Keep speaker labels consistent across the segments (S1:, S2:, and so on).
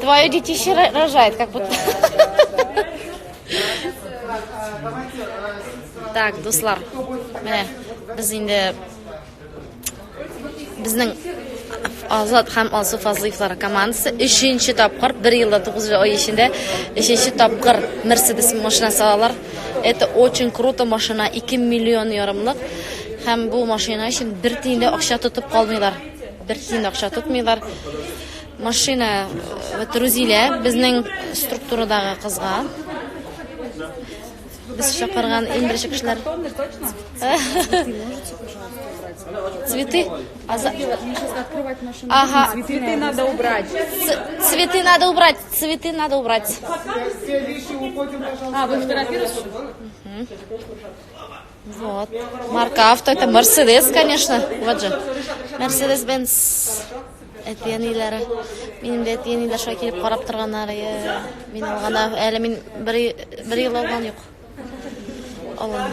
S1: Твое детище рожает, как будто. Так, дуслар. Менә без инде безнең Азат һәм Алсу Фазлыевлар командасы 3нче тапкыр, 1 елда 9 ай эчендә 3нче тапкыр Mercedes машинасы алалар. Это очень круто машина, 2 миллион ярымлык. Һәм бу машина өчен бер тиен дә акча тотып калмыйлар. Бер тиен акча тотмыйлар. Машина вот Рузилә безнең структурадагы кызга. Без чакырган иң беренче кешеләр. Цветы? А за... Ага. Цветы надо убрать.
S2: Цветы
S1: надо убрать. Цветы надо убрать. А, вы
S2: фотографируете?
S1: Вот. Марка авто. Это Мерседес, конечно. Вот же. Мерседес Бенц. Әтиәниләре. Минем дә әтиәниләр шулай килеп карап торганнар. Мин алганда әле мин бер бер ел алган юк. Алган.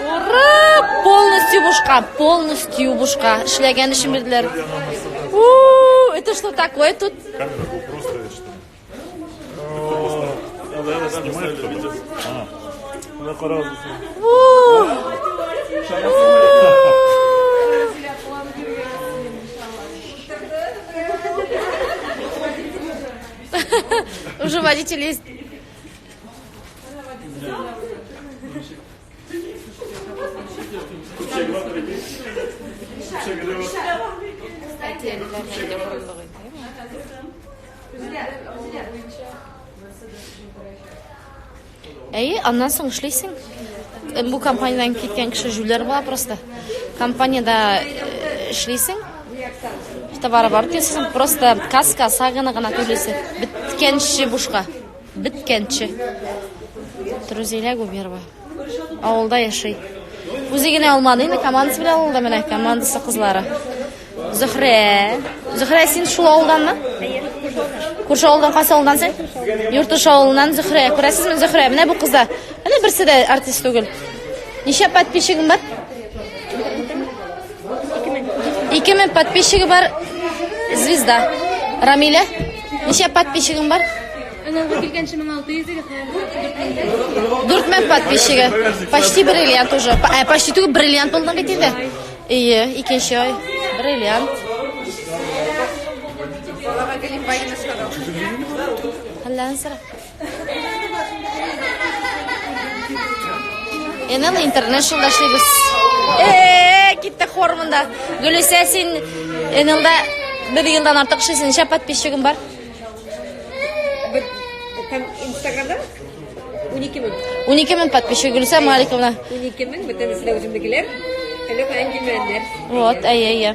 S1: Ура! Полностью бушка, полностью бушка. Эшләгән өчен бирделәр. Это что такое тут? Уже водитель есть. Әйе, аннан соң эшлисең. Бу компаниядән киткән кеше җүләр була просто. Компаниядә эшлисең. Товары бар дисең, просто каска сагына гына түлисе. Биткәнче бушка. Биткәнче. Трузилә Губерова. Авылда яши. Үзе генә алмады, инде командасы белән алды менә командасы кызлары. Зөхрә. Зөхрә, син шул авылданмы? Күрше авылдан кайсы авылдан син? Йортыш авылыннан Зөхрә. Күрәсезме Зөхрә? Менә бу кызлар. Менә берсе дә артист түгел. Ничә подписчигың бар? Ике мең подписчигы бар звезда. Рамиля, ничә подписчигың бар? Анаңга килгәнче
S3: 1600 егет хәзер.
S1: Дүрт мең подписчигы. Почти бриллиант уже. П- э, Почти түгел бриллиант булдың бит инде. Ие, икенче ай. Бриллиант. Аллаһы галим байлыгын сорау. Әллә нәрсә. Enel International эшлибез. Э, китте хор монда. Гөлүсә, син Энелда бер елдан артык эшлисең, ничә подписчигың бар? Һәм
S2: Инстаграмда 12 мең. 12 мең
S1: подписчик Гөлүсә Маликовна. 12 мең, бөтенесе
S2: дә үземнекеләр. Әле каян килмәгәннәр. Вот, әйе, әйе.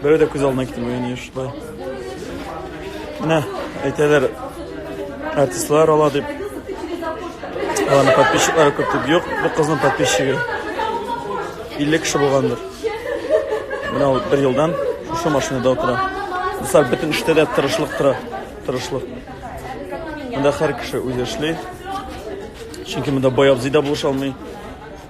S4: Берәү дә күз алдына китермәгән ни шулай. Менә әйтәләр артистлар ала дип. Аларның подписчиклары күп дип юк, бу кызның подписчигы. 50 кеше булгандыр. Менә ул бер елдан шушы машинада утыра. Дуслар, бөтен эштә дә тырышлык тора. Тырышлык. Монда һәр кеше үзе эшли. Чөнки монда бай абзый да булыша алмый.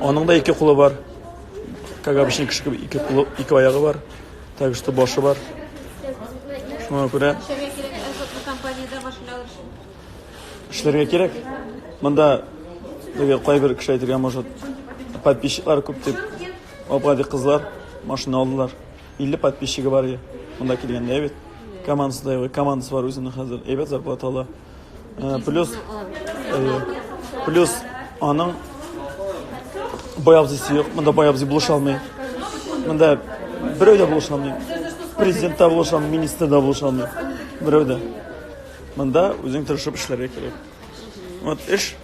S4: Аның да ике кулы бар. Как обычно кеше кебек ике кулы, ике аягы бар. Так что башы бар. Шуңа күрә
S2: эшләргә
S4: кирәк. Монда теге кайбер кеше әйтергә может подписчиклар күп дип Абгади кызлар машина алдылар. 50 подписчигы бар иде. Монда килгәндә бит. Командасы да командасы бар үзенең хәзер. Әйбәт зарплата ала. Э, плюс, э, плюс аның боябзысы юк. Монда боябзы булыша алмый. Монда берәү дә булыша алмый. Президент та булыша алмый, министр да булыша алмый. Берәү дә. Монда үзең тырышып эшләргә кирәк. Вот эш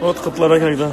S4: Вот котлара когда.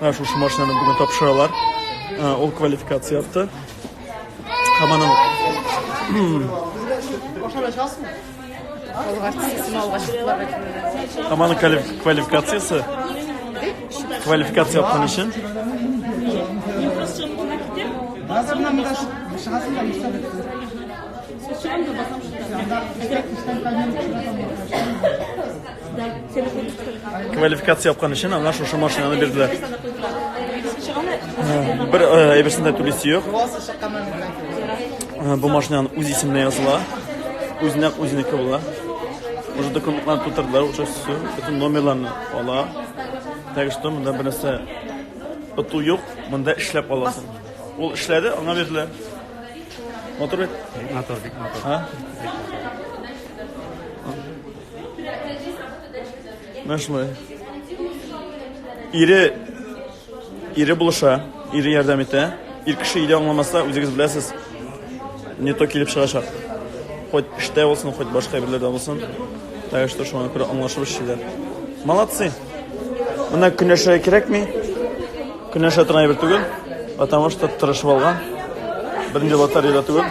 S4: Ә шушы машинаны бүген тапшыралар. Ул квалификация авто. Һәм аның Һәм аның квалификациясе квалификация япкан өчен Сейчас Квалификация япкан өчен аңа шушы машинаны бирделәр. Бер әйберсен дә түлисе юк. Бу машинаны үз исеменә языла. Үзенә үзенеке була. Уже документларны тутырдылар, уже все. Бөтен номерларны ала. Так что монда бернәрсә оту юк, монда эшләп аласың. Ул эшләде, аңа бирделәр. Матур бит. Матур бит, матур. Менә шулай. Ире ире булыша, ире ярдәм итә. Ир кеше өйдә аңламаса, үзегез беләсез, не то килеп чыгачак. Хоть эштә булсын, хоть башка әйберләрдә булсын. Так что шуңа күрә аңлашып эшлиләр. Молодцы. Менә көнәшә кирәкми. Көнәшә торган әйбер түгел, потому что тырышып алган. Беренче лотерея түгел.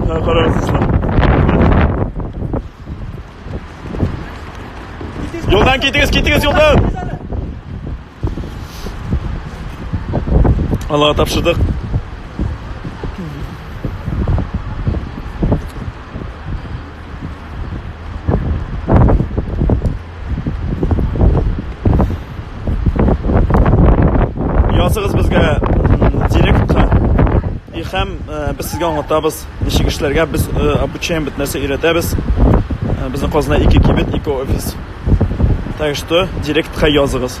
S4: Менә карагыз, дуслар. Юлдан китегез, китегез юлдан! Аллага тапшырдык. Языгыз безгә директка и һәм э, без сезгә аңлатабыз ничек эшләргә без э, обучаем бит нәрсә өйрәтәбез э, безнең казанда ике кибет ике офис так что директка языгыз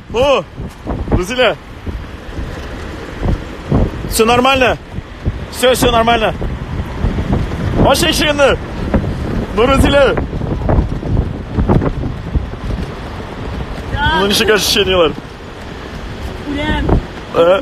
S4: О! Рузилә! Все нормально? Все, все нормально. Ачы ишегенне! Ну, Рузилә! Ну, ничек ощущениелар?
S5: Үләм. Э?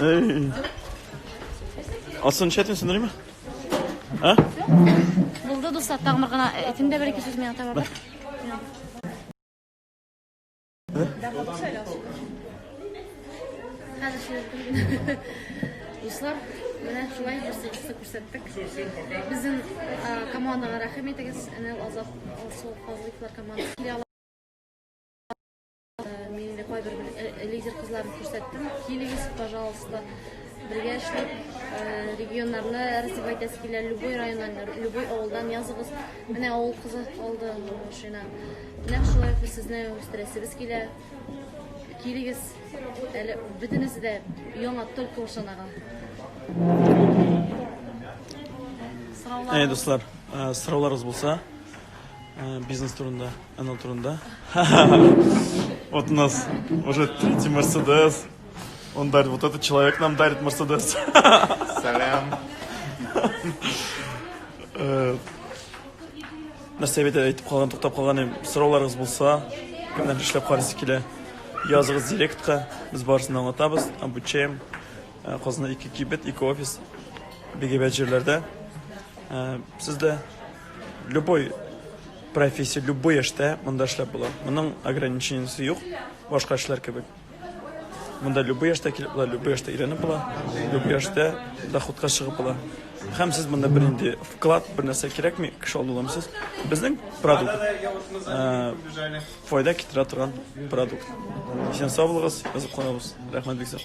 S4: Эй. А сын чәтен сындырый ма? А?
S1: Булды, дуслар, тагын бер гына әйтим дә бер-ике сүз миңа тагын. Дуслар, менә шулай бер сыйфатны күрсәттек. Безнең командага рәхим итегез. Әнә Азат Алсу Казлыклар командасы килә ала. Мин инде кайбер лидер кызларны күрсәттем. Килегез, пожалуйста. Бергә эшләп регионнарны развивать итәсе килә. Любой районнан, любой авылдан языгыз. Менә авыл кызы калды машина. Менә шулай сезне үстерәсебез килә. Килегез, әле бөтенесе
S4: дә яңа только ушанага. Әй, дуслар, э, сорауларыгыз булса, э, бизнес турында, анал турында. Вот у нас уже третий Мерседес. Он дарит, вот этот человек нам дарит Мерседес. Салям. Э, Нәрсә бит әйтеп калган, туктап калган идем. Сорауларыгыз булса, кемнәр эшләп карыйсы килә, языгыз директка, без барысын да аңлатабыз, обучаем. Э, Казанда ике кибет, ике офис, бик әйбәт җирләрдә. Э, Сез дә любой профессия, любой эштә монда эшләп була. Моның ограничениесе юк, башка эшләр кебек. Монда любой яшьтә килеп була, любой яшьтә өйрәнеп була, любой яшьтә доходка чыгып була. Һәм сез монда бер инде вклад, бер нәрсә кирәкми, кеше алдыламсыз. Безнең продукт э, файда китерә торган продукт. Исән сау булыгыз, язып калабыз. Рәхмәт бик зур.